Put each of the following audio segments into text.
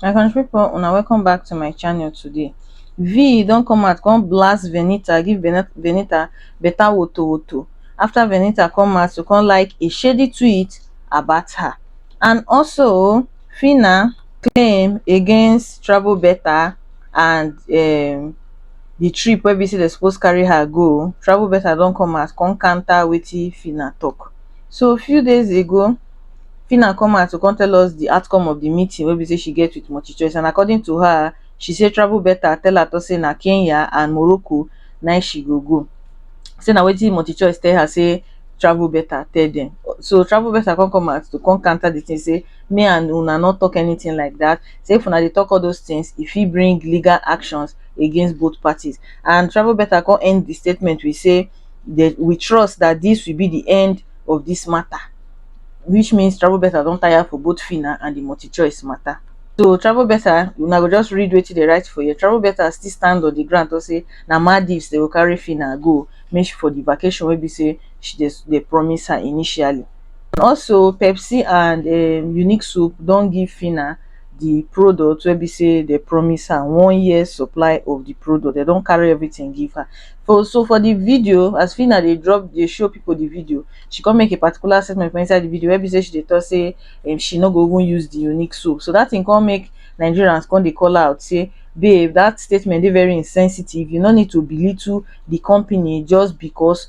my country pipo una welcome back to my channel today vee don come out come blast venita give venita better woto woto after venita come out to come like a shady tweet about her and also fina claim against travel beta and um the trip wey be say dem suppose carry her go travel beta don come out come counter wetin phyna talk so a few days ago phyna come out to come tell us the outcome of the meeting wey be say she get with multichoice and according to her she say travel beta tell her talk say na Kenya and Morocco na him she go go say na wetin multichoice tell her say travel beta tell dem so travel beta come come out to come counter the thing say me and una no tok anytin like dat, say if una dey tok all those tins, e fit bring legal actions against both parties. And Travelbeta come end di statement wit say dem we trust dat dis will be di end of dis mata, which means Travelbeta don tire for both Phyna and di MultiChoice mata. So Travelbeta, una go just read wetin dem write for here, Travelbeta still stand on di ground tok say na Maldives dem go carry Phyna go, make she for di vacation wey be say she dey dey promise her initially. and also Pepsi and um unique soap don give Phyna the product wey be say they promise her one year supply of the product they don carry everything give her for so for the video as Phyna dey drop dey show people the video she come make a particular statement for inside the video wey be say she dey talk say um she no go even use the unique soap so that thing come make Nigerians come dey call her out say babe that statement dey very insensitive you no need to belittle the company just because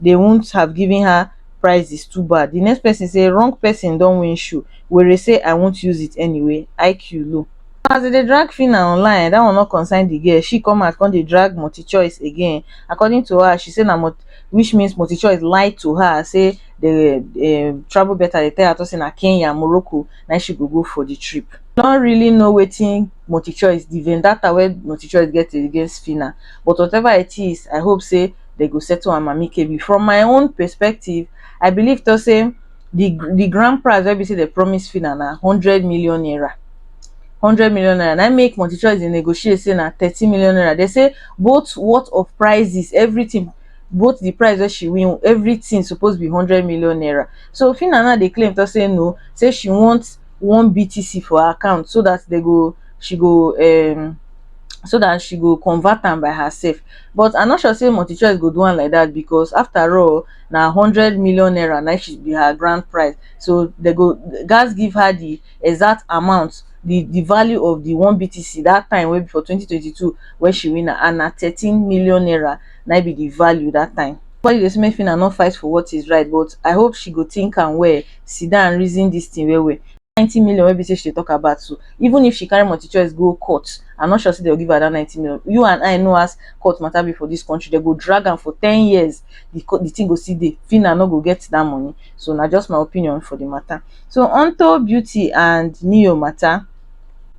they wouldn't have given her prizes too bad the next person say wrong person don win shoe werey say i won't use it anyway iq low as they dey drag phyna online that one no concern the girl she come out come dey drag multichoice again according to her she say na multi which means multichoice lied to her say the um travel better they tell her to say na kenya morocco na she go go for the trip no really know wetin multichoice the vendetta wey multichoice get against phyna but whatever it is i hope say dem go settle am amicably from my own perspective I believe to say the the grand prize wey be say dem promise Fina na hundred million naira hundred million naira na make Multichoice dey negotiate say na thirty million naira dem say both worth of prizes everything both the prize wey she win everything suppose be hundred million naira so Fina now dey claim to say no say she want one BTC for her account so that they go she go um so that she go convert am by herself but I no sure say MultiChoice go do am like that because after all na hundred million naira na she be her grand prize so they go gas give her the exact amount the the value of the one BTC that time wey be for 2022 when she win am and na 13 million naira na be the value that time. Nobody dey say make Phyna no fight for what is right but I hope she go think am well sit down and reason dis thing well well, dat ninety million wey be sey she dey talk about so, even if she carry Multichoice go court, I no sure sey dem go give her dat ninety million. You and I know as court matter be for dis country, dem go drag am for ten years, de court de thing go still dey, Phyna no go get dat money. So na just my opinion for de matter. So unto Beauty and Ne-Yo matter.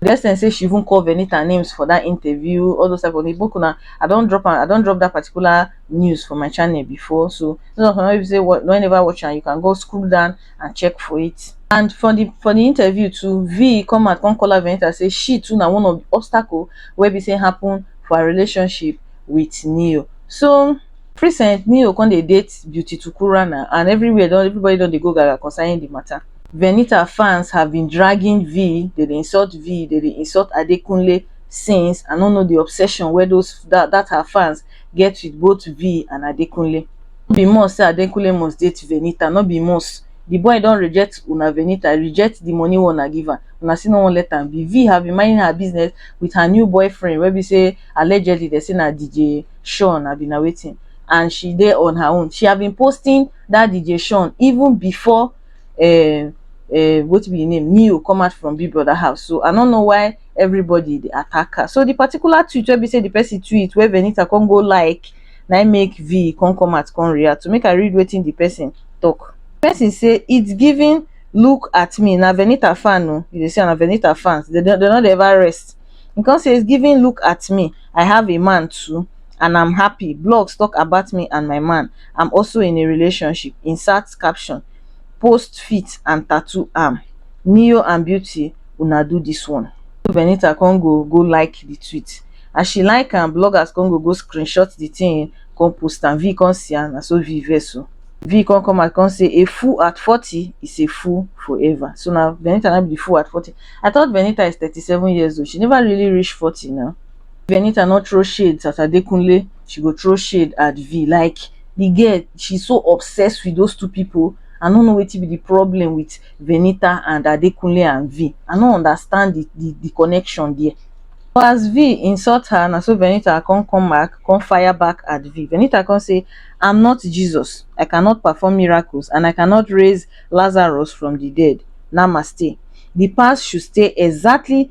the extent say she even call venita names for that interview all those type of things boku na i don drop am i don drop that particular news for my channel before so those of una wey be say wa- don never watch am you can go scroll down and check for it and for the for the interview too v come out come call her venita say she too na one of the obstacle wey be say happen for her relationship with neo so recent neo come dey date beauty tukura na and everywhere don everybody don dey go gaga concerning the matter venita fans have been dragging vee dey dey insult vee dey dey insult adekunle since i no know the obsession wey those that that her fans get with both vee and adekunle no be must say adekunle must date venita no be must the boy don reject una venita reject the money wey una give am una still no wan let am be vee have been minding her business with her new boyfriend wey be say allegedly they say na dj sean abi na wetin and she dey on her own she have been posting that dj sean even before um um wetin be im name Neo come out from Big Brother house so I no know why everybody dey attack her so the particular tweet wey be say the person tweet wey Venita come go like na im make V come come out come react to make I read wetin the person talk. The person say it's giving look at me na Venita fan o you dey see am na Venita fans dem no dey ever rest e come say it's giving look at me I have a man too and i'm happy blogs tok about me and my man i'm also in a relationship insert caption post fit and tatoo am neo and beauty una do dis one venita con go go like di tweet as she like am bloggers con go go screenshot di tin con post am vee con see am na so vee vex o vee con come out con say a fool at forty is a fool forever so na venita na be di fool at forty i thought venita is thirty seven years old she never really reach forty na. Venita no throw shades at Adekunle, she go throw shade at Vee. Like the girl, she so obsessed with those two people. I no know wetin be the problem with Venita and Adekunle and Vee. I no understand the, the, the connection there. But as Vee insult her, na so Venita come come back, come fire back at Vee. Venita come say, I'm not Jesus. I cannot perform miracles and I cannot raise Lazarus from the dead. Namaste. The past should stay exactly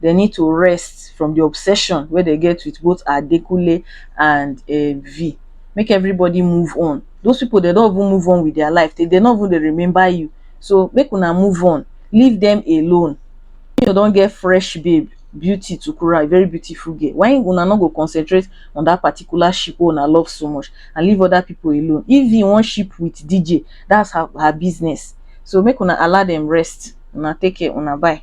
they need to rest from the obsession wey they get with both Adekunle and um V. Make everybody move on. Those people, they don't even move on with their life. They, they not even they remember you. So make una move on. Leave them alone. You don't get fresh babe, beauty to Kura, a very beautiful girl. Why una not go concentrate on that particular ship wey una love so much and leave other people alone? If you want ship with DJ, that's her, her business. So make una allow them rest. Una take care, una bye.